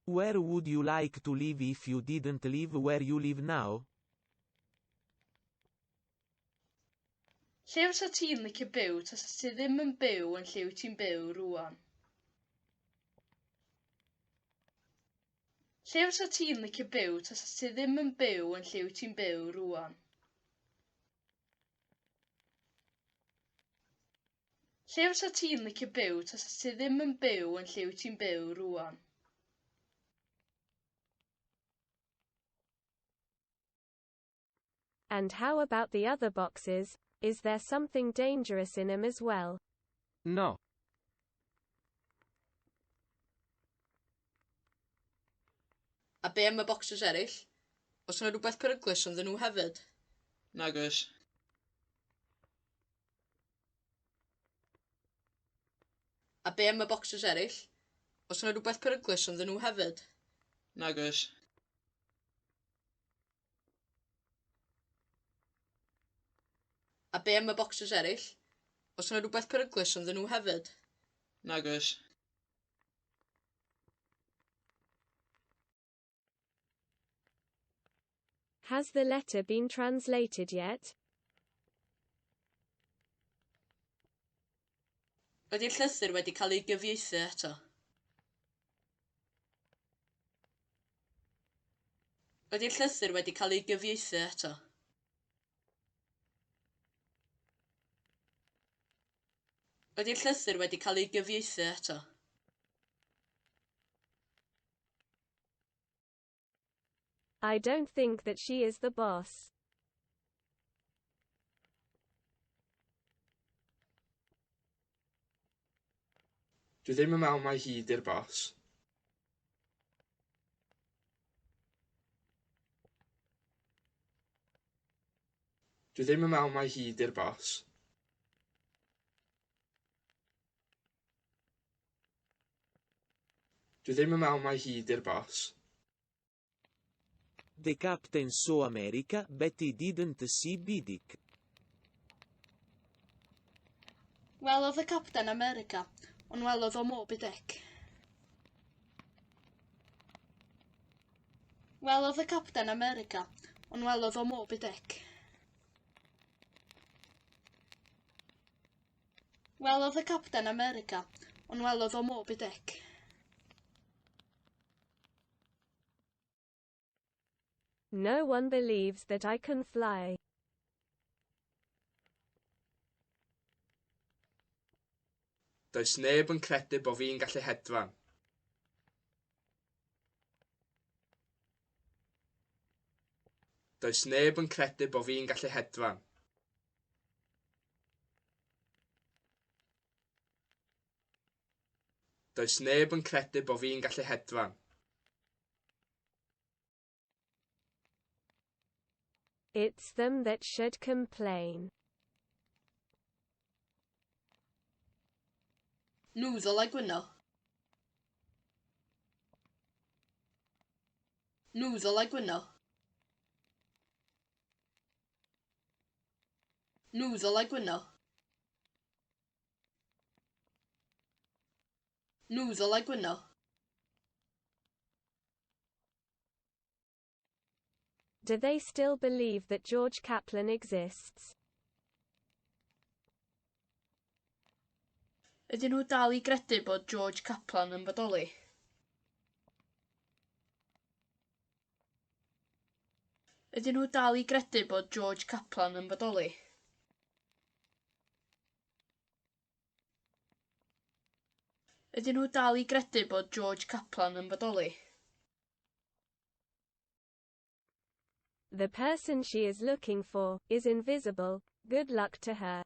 Where would you like to live if you didn't live where you live now? Lle fysa ti'n licio byw tas ti ddim yn byw yn lle wyt ti'n byw rwan? Lle fysa ti'n licio byw tasa ti ddim yn byw yn lle wyt ti'n byw rwan? Lle fysa ti'n licio byw tasa ti ddim yn byw yn lle wyt ti'n byw rwan? And how about the other boxes, is there something dangerous in 'em as well? No. A be am y bocsys eraill? Os yna rhywbeth peryglus ynddyn nhw hefyd? Nag oes. A be am y bocsys eraill? Os yna rhywbeth peryglus ynddyn nhw hefyd? Nag oes. A be am y bocsys eraill? Oes yna rhywbeth peryglus ynddyn nhw hefyd? Nag oes. Has the letter been translated yet? Ydy'r llythyr wedi cael ei gyfieithu eto? Ydy'r llythyr wedi cael ei gyfieithu eto? Ydy'r llythyr wedi cael ei gyfieithu eto? I don't think that she is the boss. Dwi ddim yn meddwl mai hi di'r boss. Dwi ddim yn meddwl mai hi di'r boss. Dwi ddim yn meddwl mai hi 'di'r boss. The captain saw America but he didn't see Bidic. Welodd y capten America, ond welodd o Moby Dick. Welodd y capten America, ond welodd o Moby Dick. Welodd y Capten America, ond welodd o Moby Dick. No one believes that I can fly. Does neb yn credu bod fi'n gallu hedfan. Does neb yn credu bod fi'n gallu hedfan. Does neb yn credu bo fi'n gallu hedfan. It's them that should complain. Nhw ddylai gwyno. Nhw ddylai gwyno. Nhw ddylai gwyno. Nhw ddylai gwyno. Do they still believe that George Kaplan exists? Ydyn nhw dal i gredu bod George Kaplan yn bodoli? Ydyn nhw dal i gredu bod George Kaplan yn bodoli? Ydyn nhw dal i gredu bod George Kaplan yn bodoli? The person she is looking for is invisible. Good luck to her.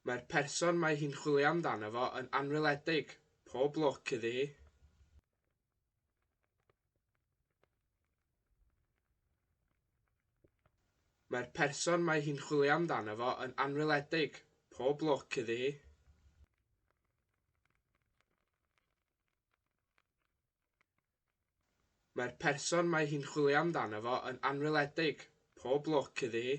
Mae'r person mae hi'n chwilio amdano fo yn anweledig. Pob lwc iddi hi. Mae'r person mae hi'n chwilio amdano fo yn anweledig. Pob lwc iddi hi. Mae'r person mae hi'n chwilio amdano fo yn anweledig. Pob lwc iddi hi.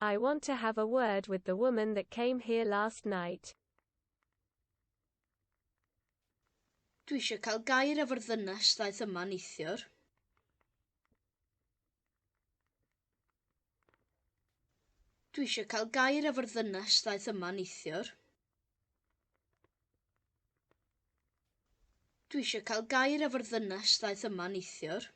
I want to have a word with the woman that came here last night. Dwi eisiau cael gair efo'r ddynes ddaeth yma neithiwr. Dwi eisiau cael gair efo'r ddynes ddaeth yma neithiwr. Dwi eisiau cael gair efo'r ddynes ddaeth yma neithiwr.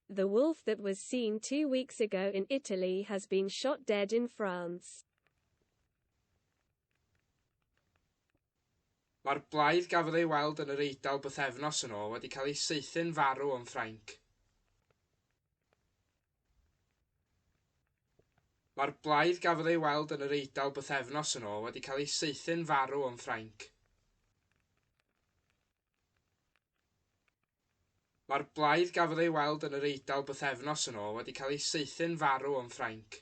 The wolf that was seen two weeks ago in Italy has been shot dead in France. Mae'r blaidd gafodd ei weld yn yr Eidal bythefnos yn ôl wedi cael ei saethu'n farw yn Ffrainc. Mae'r blaidd gafodd ei weld yn yr Eidal bythefnos yn ôl wedi cael ei saethu'n farw yn Ffrainc. Mae'r blaidd gafodd ei weld yn yr Eidal bythefnos yn ôl wedi cael ei saethu'n farw yn Ffrainc.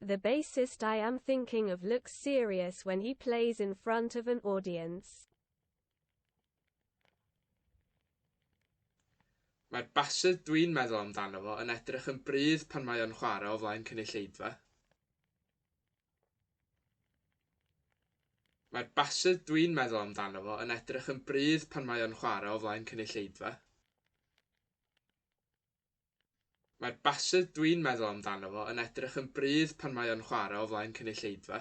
The bassist I am thinking of looks serious when he plays in front of an audience. Mae'r basydd dwi'n meddwl amdano fo yn edrych yn brudd pan mae o'n chwarae o flaen cynulleidfa. Mae'r basydd dwi'n meddwl amdano fo yn edrych yn brudd pan mae o'n chwarae o flaen cynulleidfa. Mae'r bassedd dwi'n meddwl amdano fo yn edrych yn brudd pan mae o'n chwarae o flaen cynulleidfa.